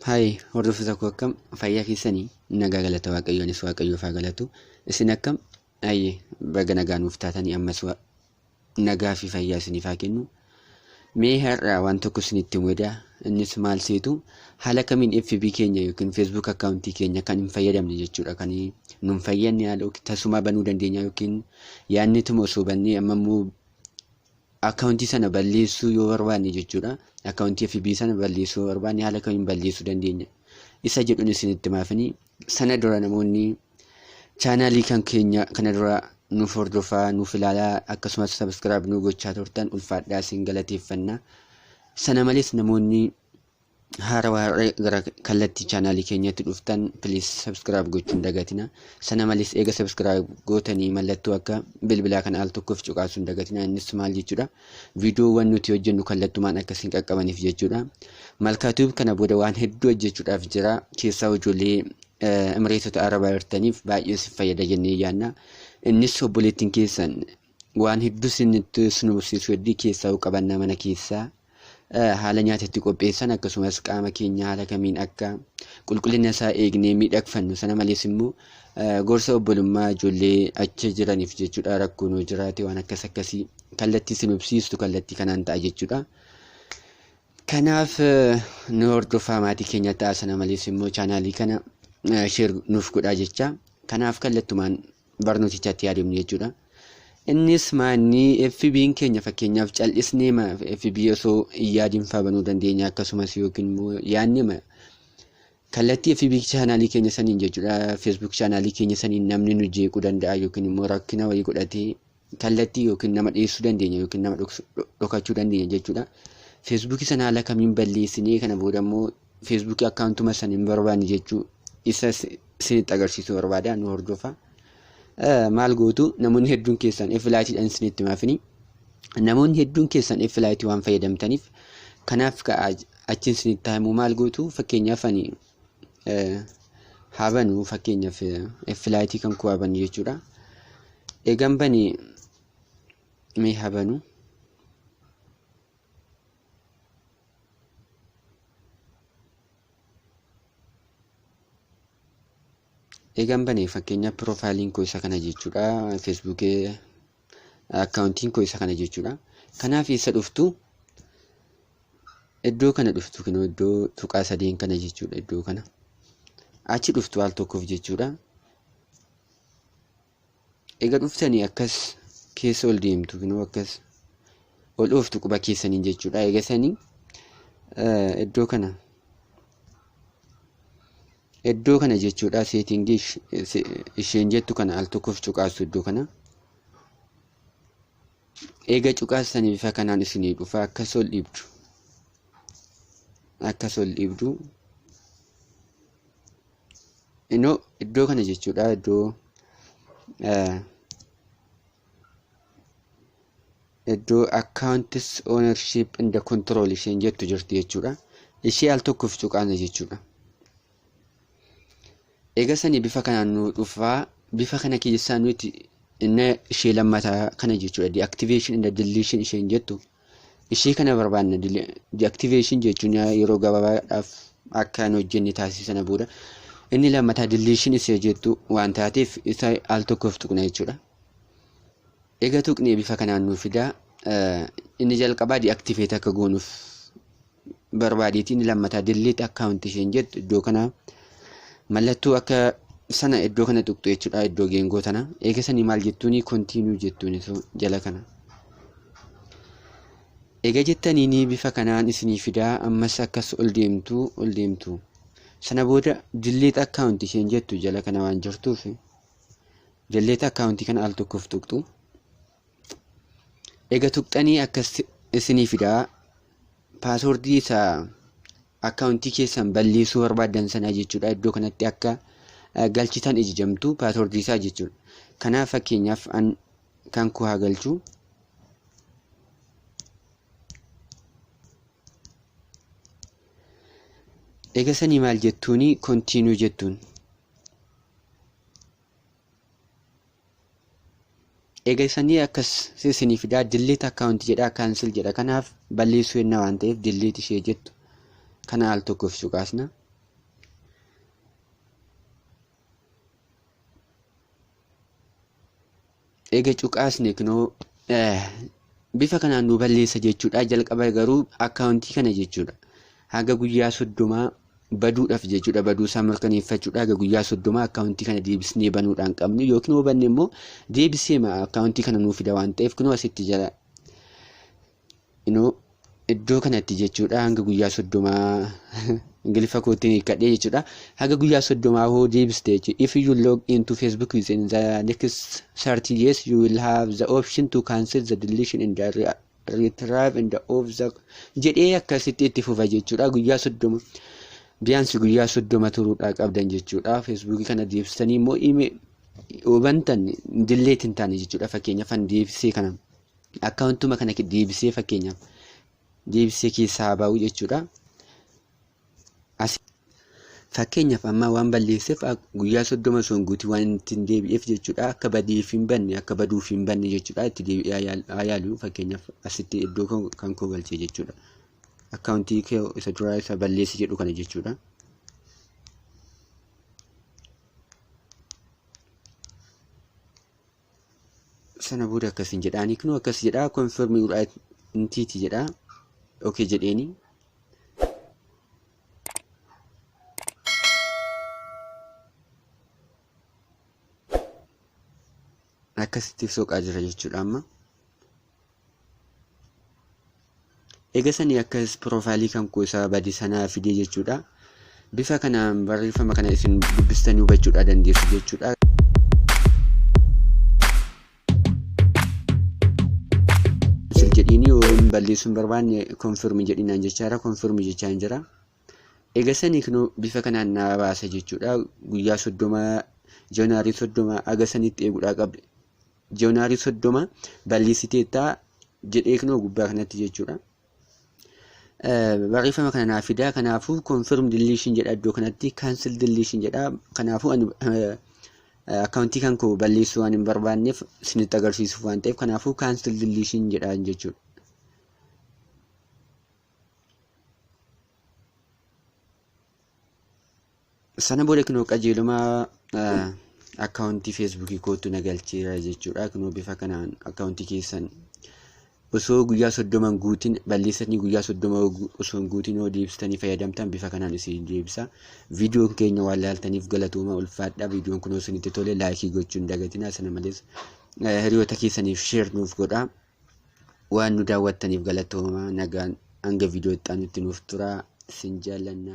Hayi hordoftoota koo akkam fayyaa keessanii nagaa galata waaqayyoonis waaqayyoof haa galatu isin akkam ayye baga nagaa nuuf taatanii ammas wa- nagaa fi fayyaa isiniif haa kennu mee har'a waan tokko isinitti mudaa innis maal seetu haala kamiin FB keenya yookiin Facebook akkaawuntii keenya kan hin fayyadamne jechuudha kan nun fayyadne haala yookiin tasumaa banuu dandeenya yookiin yaadni tuma osoo bannee amma immoo Akkaawuntii sana balleessuu yoo barbaanne jechuudha. Akkaawuntii FB sana balleessuu yoo barbaanne haala kamiin balleessuu dandeenya? Isa jedhuun isinitti maafini. Sana dura namoonni chaanaalii kan keenya kana dura nuuf hordofaa, nuuf ilaalaa akkasumas sabiskiraayib nu gochaa turtan ulfaadhaa isin galateeffanna. Sana malees namoonni Haara waarree gara kallattii chaanaalii keenyatti dhuftan please subscribe gochuun dagatina. Sana malees eega subscribe gootanii mallattoo akka bilbilaa kan al tokkoof cuqaasuun dagatina. Innis maal jechuudha? Viidiyoowwan nuti hojjennu kallattumaan akka isin qaqqabaniif jechuudha. Malkaatuub kana booda waan hedduu hojjechuudhaaf jira. Keessaa ijoollee Emireetota Arabaa jirtaniif baay'ee isin fayyada jennee yaadna. Innis obboleettiin keessan Waan hedduu sinitti nu barsiisu hedduu keessaa qabannaa mana keessaa haala nyaata itti qopheessan akkasumas qaama keenya haala kamiin akka qulqullina isaa eegnee miidhagfannu sana malees immoo gorsa obbolummaa ijoollee achi jiraniif jechuudha rakkoo nu jiraate waan akkas akkasii kallattii sin hubsiistu kallattii kanaan ta'a jechuudha. Kanaaf nu hordofaa maatii keenya ta'a sana malees immoo chaanaalii kana sheer nuuf godhaa jecha kanaaf kallattumaan barnootichatti haa deemnu jechuudha. Innis maanni FB'n keenya fakkeenyaaf cal'isnee FB osoo hin yaadin faa banuu dandeenya akkasumas yookiin immoo yaadnee kallattii FB chaanaalii keenya saniin jechuudha Facebook chaanaalii keenya saniin namni nu jeequu danda'a yookiin immoo rakkina wayii godhatee kallattii yookiin nama dhiyeessuu dandeenya yookiin nama dhokachuu dandeenya jechuudha. Feesbuukii sana haala kamiin balleessinee kana booda immoo feesbuukii akkaawuntuma sana hin barbaanne jechuu isa isinitti agarsiisuu barbaada nu hordofa. Maal gootu namoonni hedduun keessan F-laayitiidhaan isinitti maafini. Namoonni hedduun keessan F-laayitii waan fayyadamtaniif kanaaf achiin isinitti himu maal gootu fakkeenyaaf ani haa banu fakkeenyaaf filaayitii kan koo haa banu jechuudha. Eegan bane mee haa banu. Eegan bane fakkeenyaaf piroofaayiliin koo isa kana jechuudha. Feesbuukii akkaawuntiin koo isa kana jechuudha. Kanaaf eessa dhuftu? Iddoo kana dhuftu kunoo iddoo tuqaa sadeen kana jechuudha iddoo kana. Achi dhuftu al tokkoof jechuudha. Egaa dhuftanii akkas keessa ol deemtu kunoo akkas ol ooftu quba keessaniin jechuudha. Egaa sanii iddoo kana Iddoo kana jechuudha seetingii isheen jettu kana al tokkoof cuqaasu iddoo kana. Eega cuqaasanii bifa kanaan isinii dhufa akka sol dhiibdu. Akka sol dhiibdu. Inoo iddoo kana jechuudha iddoo iddoo accounts ownership and control isheen jettu jirti jechuudha. Ishee al tokkoof cuqaana jechuudha. Egaa sanii bifa kanaan nu dhufaa bifa kana keessaa nuti inni ishee lammataa kana jechuudha. Deactivation and deletion isheen jettu Ishee kana barbaanna deactivation jechuun yeroo gabaabaadhaaf akka hin hojjenne taasisuu sana booda inni lammataa deletion isa jettu waan taateef isa al tokkoof tuqna jechuudha. Egaa tuqnee bifa kanaan nuuf fidaa inni jalqabaa deactivate akka goonuuf barbaadeetiin lammataa delete account isheen jettu iddoo kana mallattoo akka sana iddoo kana tuqxu jechuudha iddoo geengoo tana eega sanii maal jettuuni continue jettuuni so jala kana eega jettaniini bifa kanaan isinii fidaa ammas akkas ol deemtu ol deemtu sana booda delete account isheen jettu jala kana waan jirtuuf delete account kana al tokkoof tuqxu Ega tuqxanii akkas isinii fidaa paaswordii isa akkaawuntii keessan balleessuu barbaaddan sanaa jechuudha iddoo kanatti akka galchitan ijijamtu paaswordii isaa jechuudha. Kanaaf fakkeenyaaf an kan koo haa galchu. Ega sanii maal jettuuni kontiinuu jettuun. Egaa isanii akkas isinii fidaa delete account jedhaa cancel jedha kanaaf balleessuu yenna waan ta'eef delete ishee jettu kana al tokkoof cuqaasna. Egaa cuqaasne kunoo Bifa kanaan nuu balleessa jechuudha. Jalqaba garuu akkaawuntii kana jechuudha. Haga guyyaa soddomaa baduudhaaf jechuudha. Baduu isaa mirkaneeffachuudha. Haga guyyaa soddomaa akkaawuntii kana deebisnee banuudhaan qabnu yookiin yoo banne immoo deebisee akkaawuntii kana nuu fida waan ta'eef kunoo asitti jala inoo iddoo kanatti jechuudha hanga guyyaa soddomaa ingiliffa kootiin hiikkadhee jechuudha hanga guyyaa soddomaa hoo deebiste jechuudha if you log into facebook within the next 30 years you will have the option to cancel the deletion and the re- retrieve and the of the jedhee akkasitti itti fufa jechuudha guyyaa soddoma biyaansi guyyaa soddoma turuudhaa qabdan jechuudha feesbuukii kana deebistanii immoo ime hubantan dilleetiin taane jechuudha fakkeenyaaf an deebisee kana akkaawuntuma kana deebisee fakkeenyaaf deebisee keessaa haa bahu jechuudha. Fakkeenyaaf amma waan balleesseef guyyaa soddoma osoo hin guutiin waan itti hin deebi'eef jechuudha. Akka badeef hin banne akka baduuf hin banne jechuudha. Itti deebi'ee haa yaalu fakkeenyaaf asitti iddoo kan koo galchee jechuudha. Akkaawuntii kee isa duraa isa balleessi jedhu kana jechuudha. sana booda akkasiin jedhaanii kunoo akkas jedhaa confirm your identity jedhaa okay jedheeni akkasitti soqaa jira jechuudha amma Eega sanii akkas piroofaayilii kan koo isaa bade sanaa fidee jechuudha. Bifa kanaan barreeffama kana isin dubbistanii hubachuudhaa dandeessu jechuudha. Sir jedhiini yoo hin balleessuun barbaanne konfirmi jedhinaan jechaa jira konfirmi jechaa hin jira. Eega sanii kunoo bifa kanaan naa baasa jechuudha. Guyyaa soddoma januaarii soddoma aga sanitti eeguudhaa qabde. Joonarii soddoma balleessiteetta jedhee kunoo gubbaa kanatti jechuudha. Barreeffama kana naaf fidaa kanaafuu confirm deletion jedha iddoo kanatti cancel deletion jedha kanaafuu ani akkaawuntii kan koo balleessuu waan hin barbaanneef isinitti agarsiisuuf waan ta'eef kanaafuu cancel deletion jedha jechuudha. sana booda kunoo qajeeluma akkaawuntii feesbuukii kootu na galcheera jechuudha kunoo bifa kanaan akkaawuntii keessan osoo guyyaa soddoma guutin balleessanii guyyaa soddoma osoo hin guutin yoo deebistanii fayyadamtan bifa kanaan isin deebisa viidiyoon keenya waan laaltaniif galatooma ulfaadha viidiyoon kunoo isinitti tole laayikii gochuun dagatinaa sana malees hiriyoota keessaniif sheer nuuf godhaa. waan nu daawwattaniif galatoomaa nagaan hanga viidiyoo itti aanutti nuuf turaa sin jaallanna.